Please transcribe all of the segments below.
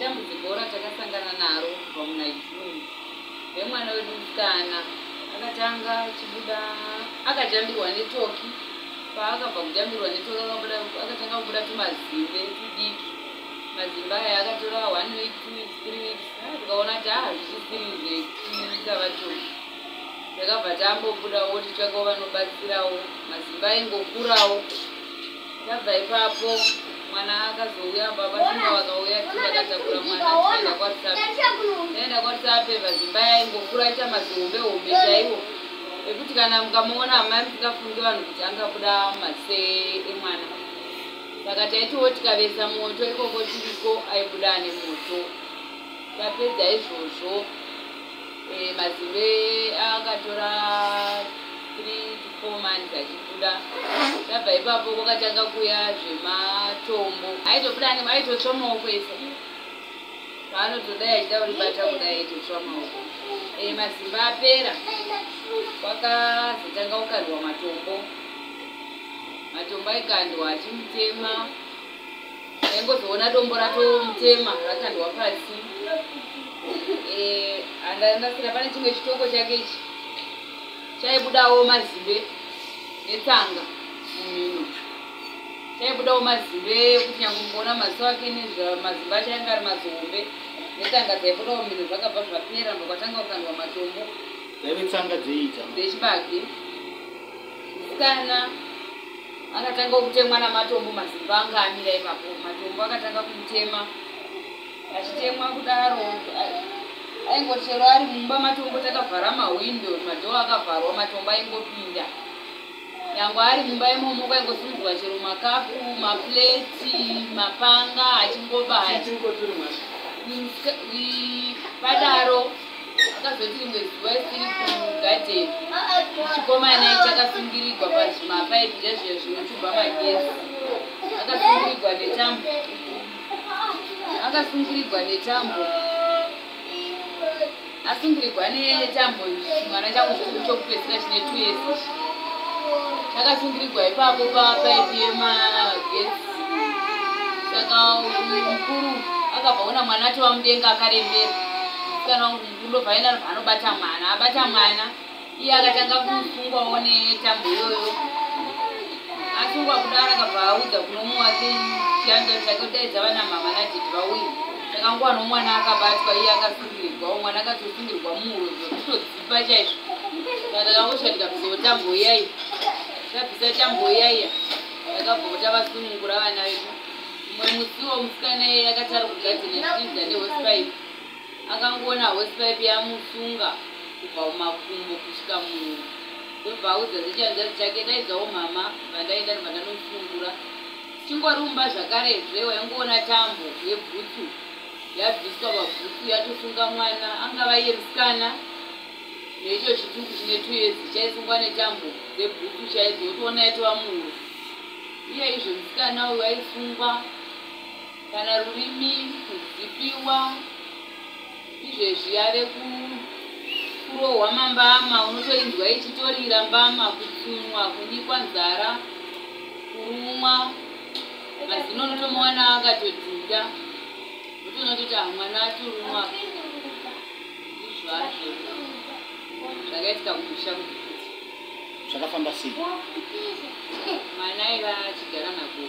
Dambudziko ratakasangana naro kubva muna June remwana wedu musikana akatanga chibuda akajambirwa netoki paakabva kujambirwa netoki akatanga kubuda tumazimbe tudiki mazimbe aya akatora one week two weeks three weeks tikaona kuti haa zvisisiri zvekuita vatoki takabva tambobudawo tichakawo vanobatsirawo mazimbe aingokurawo Ndabva ipapo mwana akazouya baba simba vakauya tikatakura mwana tikaenda kwatisape taenda kwatisape vazimba yaingokura aita mazihombe hombe chaiwo ekuti kana mukamuona amai musikafungi vanhu kuti angabuda mase emwana saka taitiwo tikavesa moto ikoko tiriko aibuda ane moto tapedza izvozvo Eh, mazimbe akatora 3 to 4 months achibuda zvabva ipapo kwakatanga kuya zvematombo aitobuda anenge aitotsva maoko ese paanotodai achida kuribata kudai aitotsva maoko eh, mazimba apera kwakazotanga kukandwa matombo matombo aikandwa achimutema ndaingozoona dombo ratomutema rakandwa pasi eh, andanasira pane chimwe chitoko chake ichi chaibudawo mazimbe netsanga mumhino chaibudawo mazimbe ekuti nyange mukuona maziso ake nezvamazimbe acho ainge ari mazihombe netsanga dzaibudawo mumhino zvakabva zvapera ndokwatanga kukandwa matombo dzaive tsanga dzeiita dzechibage musikana Akatanga kutemwa namatombo mazimbo anga amira ipapo. Matombo akatanga kumutema. Achitemwa kudaro aingoti chero ari mumba matombo takavhara mahwindo madhoo akavharwa matombo aingopinda. Nyangwe ari mumba imomo kwaingosimudzwa chero makapu, mapleti, mapanga achingobaya. Padaro Akazoti rimwe zuva isiri kugadheni, chikomana ichi akasungirigwa pazvimapaipi zvezviya zvinotuba magezi. Akasungirigwa netambo. Akasungirigwa netambo. Asungirigwa netambo chimwana changu chikuru chokupedzisira chine two years ichi. Chakasungirigwa ipapo papaipi yemagezi. Saka mkuru akabva ona mwana atova mudenga akarembera. msikana wangu mukundo paina anobva anobata mwana abata mwana iye akatanga kusungwawo netambo iyoyo asungwa kudara akabva audza kuno mumwe wake chiyanza chake kudaidza vana mama nadhiti vauye takanguva nomwana akabatwa iye akasungirwawo mwana akatosungirwa muhuro zvekutodzipa chaizvo takakosha tikabvisawo tambo iyaiya takabvisa tambo iyaiya takabvota vasunungura vana vedu mumwe musiwo musikana iye akatari kugadzina chiinza nehospice akangoona horse pipe yamusunga kubva kumakumbo kusvika munhu ndobva audza zvechihanzvadzi chake ndaidzawo mhama vandaenda ndobva ndanomusungura chingori umba zvakarezve waingoona tambo yebhutsu yabviswa pabhutsu yatosunga mwana angava iye musikana neicho chituku chine two years chaisungwa netambo dzebhutsu chaidzo yotoona yatova munhu iye izvo musikana uyu aisungwa Kana rurimi kuzipiwa izvezvi yave kurohwa mambama unotoinzwa ichitorira mbama kutsunwa kunyikwa nzara kurumwa mazino unotomuwana akatodhunda unotoona kuti ah, mwana atorumwa izvazvo zvakaitika kumusha kuti zvakafamba sei mwana aiva achigara nakuo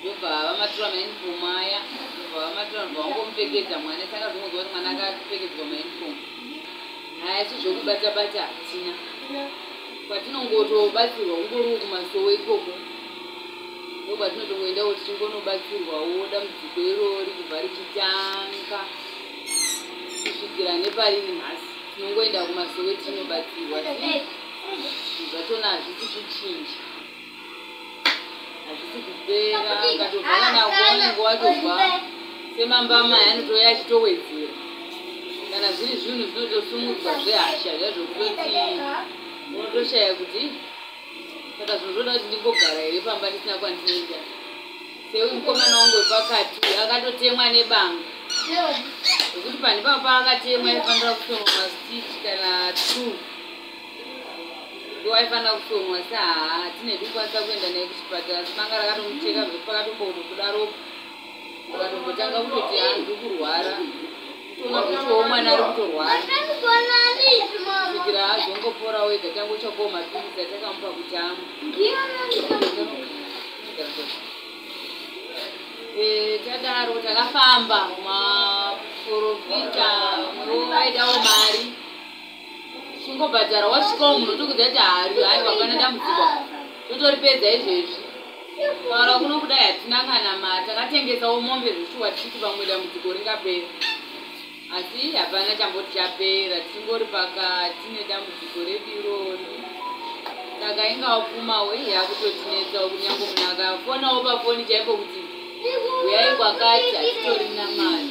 ndobva vamatura mauniform aya ndobva vamatura ndobva vangomupfekedza mwana saka zvongonzwa kuti mwana akapfekedzwa mauniform haya si zvokubata bata hatina kwatinongotobatsirwa kungoriwo kumasowo ikoko ndokwatinotongoendawo tichingonobatsirwawo dambudziko iroo rikubva richitanga kusvikira nepariri nhasi tinongoenda kumasowe tinobatsirwa zvatonazvi tichichinja hazvisi kupera ukatobva kana kuonengo watobva semambama yanotouya achitowedzera kana zviri zvinhu zvinotosumudzwa zvehasha zvazvokutoti unotoshaya kuti saka zvinhu zvoda kuti ndimbogara here pamba ndisina kwandinoenda seuyu mukomana wangu wepakati akatotemwa nebanga zvekuti pandipapa akatemwa aifanira kutonga masitich kana two ndowaifanira kusomwa asi haa tine kukwanisa kuenda naye kuchipatara asi banga rakatomucheka zvekuti pakatomboona kudaropo ukatombotanga kutoti hanzi kurwara kutoona zvechiowo mwana ari kutorwara kusvikira azongopora wega tange uchakowo mapirisi atakamupa kuti amwe eh, tadaro takafamba maprofita vaidawo mari chingobhadhara wasvikawo munhu otokudza kuti haarwi hai wapana dambudziko totoripedza izvezvi taura kuno kudai hatina kana ma takatengesawo mombe zveshuwa tichiti vamwe dambudziko ringapera asi hapana chamboti chapera tingori pakati nedambudziko redu irori saka inga wapumawo iyi yakutotinetsawo kunyange munhu akafonawo pafoni chaipo kuti uyai kwakati hatitorina mari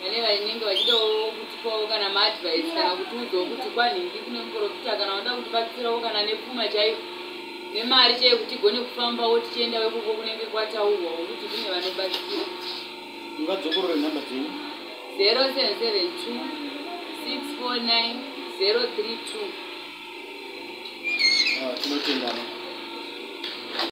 vane vainenge vachidawo kutipawo kana maadvice kana kutiudzawo kuti kwanhingi kune muprofita kana vanoda kutibatsirawo kana nepfuma chaiyo nemari chaiyo kuti igone kufambawo tichienda wekoko kunenge kwataurwa wokuti kune vanobatsira ungadzokorore nhamba dzenyu 0772 649 032 tinotendana